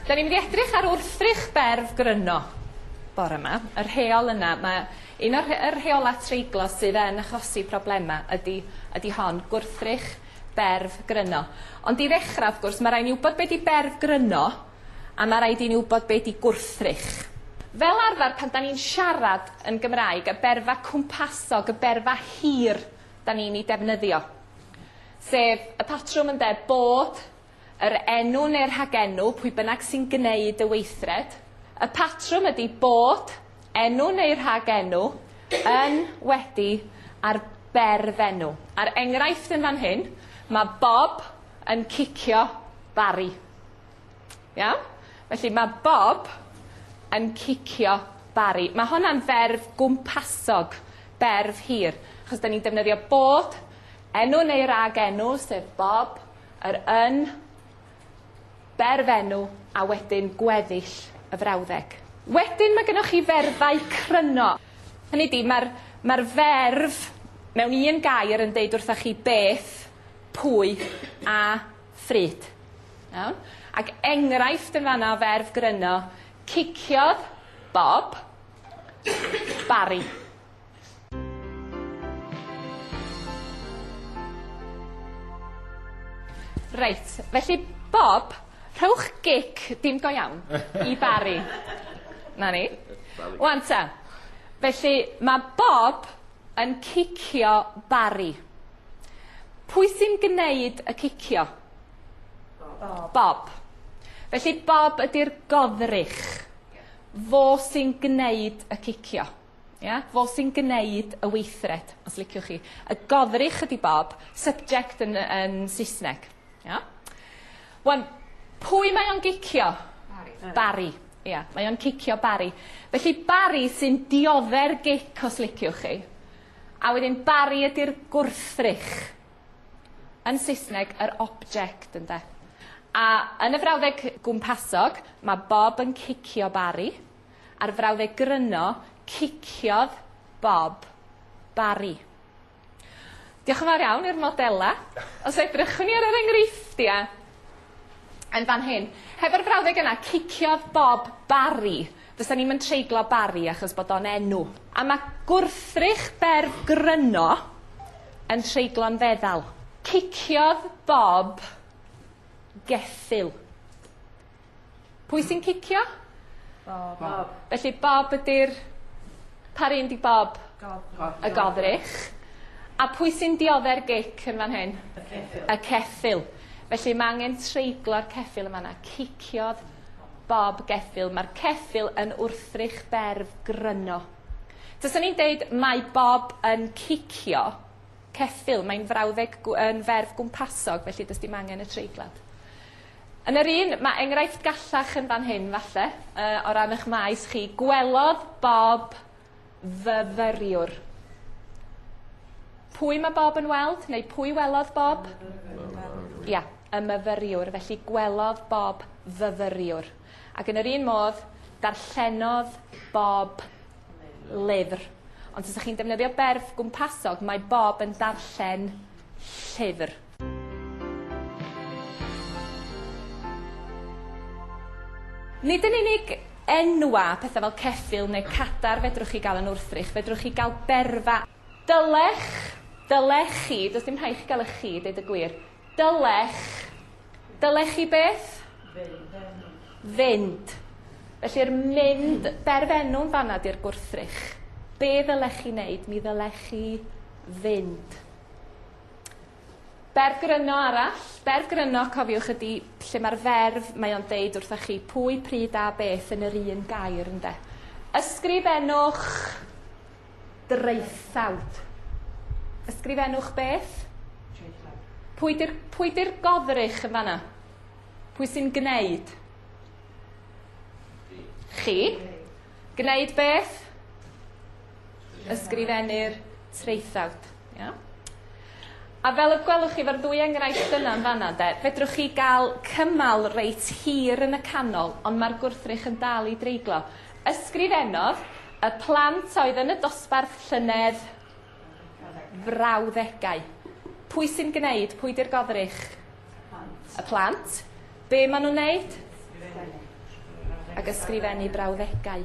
Da ni'n mynd i edrych ar wrthrych berf gryno bore 'ma. Y rheol yna ma' un o'r rhe- y rheola' treiglo sydd yn achosi problema ydi ydi hon gwrthrych berf gryno. Ond i ddechra wrth gwrs ma' rai' ni wbod be' 'di berf gryno. a ma' raid i ni wbod be' 'di gwrthrych. Fel arfer pan 'dan ni'n siarad yn Gymraeg, y berfa cwmpasog, y berfa hir 'dan ni'n 'i defnyddio, sef y patrwm ynde, bod, yr enw neu'r rhagenw, pwy bynnag sy'n gneud y weithred, y patrwm ydi bod, enw neu'r rhagenw, yn, wedi, a'r berfenw. A'r enghraifft yn fan hyn, ma' Bob yn cicio Bari. Iawn? Felly mae Bob yn cicio Barry. Mae honna'n ferf gwmpasog, berf hir, achos da ni'n defnyddio bod, enw neu rag enw, sef Bob, yr yn, berf enw, a wedyn gweddill y frawddeg. Wedyn mae gennych chi ferfau cryno. Hynny di, mae'r mae ferf mewn un gair yn deud wrthych chi beth, pwy a Fryd. Iawn? Ac enghraifft yn fanna o ferf gryno, ciciodd Bob Barry. Reit, felly Bob, rhowch gic, dim go iawn, i Barry. 'Na ni. Ŵan ta, felly ma' Bob yn cicio Barry. Pwy sy'n gwneud y cicio? Bob. Bob. Felly Bob ydy'r goddrych. Fo sy'n gwneud y cicio. Ia? Fo sy'n gwneud y weithred, os liciwch chi. Y goddrych ydy Bob, subject yn yn Saesneg. Ia? Wan, pwy mae o'n gicio? Barry. Barry. Ia, mae o'n cicio Barry. Felly Barry sy'n diodde'r gic os liciwch chi. A wedyn Barry ydy'r gwrthrych. Yn Saesneg, yr object, ynde. A yn y frawddeg gwmpasog, mae Bob yn cicio Barry. A'r frawddeg gryno, ciciodd Bob Barry. Diolch yn fawr iawn i'r modelau. Os edrychwn ni ar yr enghreifftiau yn fan hyn, hefo'r frawddeg yna, ciciodd Bob Barry. Fysa ni'm yn treiglo Barry achos bod o'n enw. A mae gwrthrych berf gryno yn treiglo'n feddal. Ciciodd Bob geffyl. Pwy sy'n cicio? Bob. Bob. Felly Bob ydy'r... Pa run 'di Bob? Gofrych. Y gofrych. A pwy sy'n diodde'r gic yn fan hyn? Y ceffyl. Y ceffyl. Felly mae angen treiglo'r ceffyl yma na. Ciciodd Bob geffyl. Mae'r ceffyl yn wrthrych berf gryno. Tysyn ni'n deud mae Bob yn cicio ceffyl. Mae'n frawddeg yn ferf gwmpasog, felly dys dim angen y treiglad. Yn yr un, mae enghraifft gallach yn fan hyn, falle, uh, o ran eich maes chi. Gwelodd Bob fyfyriwr. Pwy mae Bob yn weld, neu pwy welodd Bob? Ia, yeah, y myfyriwr. Felly gwelodd Bob fyfyriwr. Ac yn yr un modd, darllenodd Bob lyfr. Ond os ydych chi'n defnyddio berf gwmpasog, mae Bob yn darllen llyfr. Nid yn unig enwa, pethau fel ceffyl neu cadar fedrwch chi gael yn wrthrych, fedrwch chi gael berfa, Dylech, dylech chi, does dim rhaid i chi gael eich chi, deud y gwir, dylech, dylech chi beth? Fynd. Felly'r mynd, berfenw'n fanna di'r gwrthrych. Be ddylech chi wneud? Mi ddylech chi fynd. Berf gryno arall. Berf gryno, cofiwch, ydy lle mae'r ferf, mae o'n deud wrthych chi pwy, pryd a beth yn yr un gair, ynde. Ysgrifennwch draethawd. Ysgrifennwch beth? Pwy di'r pwy di'r godrych yn fanna? Pwy sy'n gwneud? Chi. Gwneud beth? Ysgrifennu'r traethawd. Yeah. A fel y gwelwch chi, mae'r ddwy enghraifft yna yn fanna, de, fedrwch chi gael cymal reit hir yn y canol, ond mae'r gwrthrych yn dal i dreiglo. Ysgrifennodd y plant oedd yn y dosbarth llynedd frawddegau. Pwy sy'n gwneud? Pwy di'r godrych? Y plant. Be maen nhw'n wneud? Ac ysgrifennu brawddegau.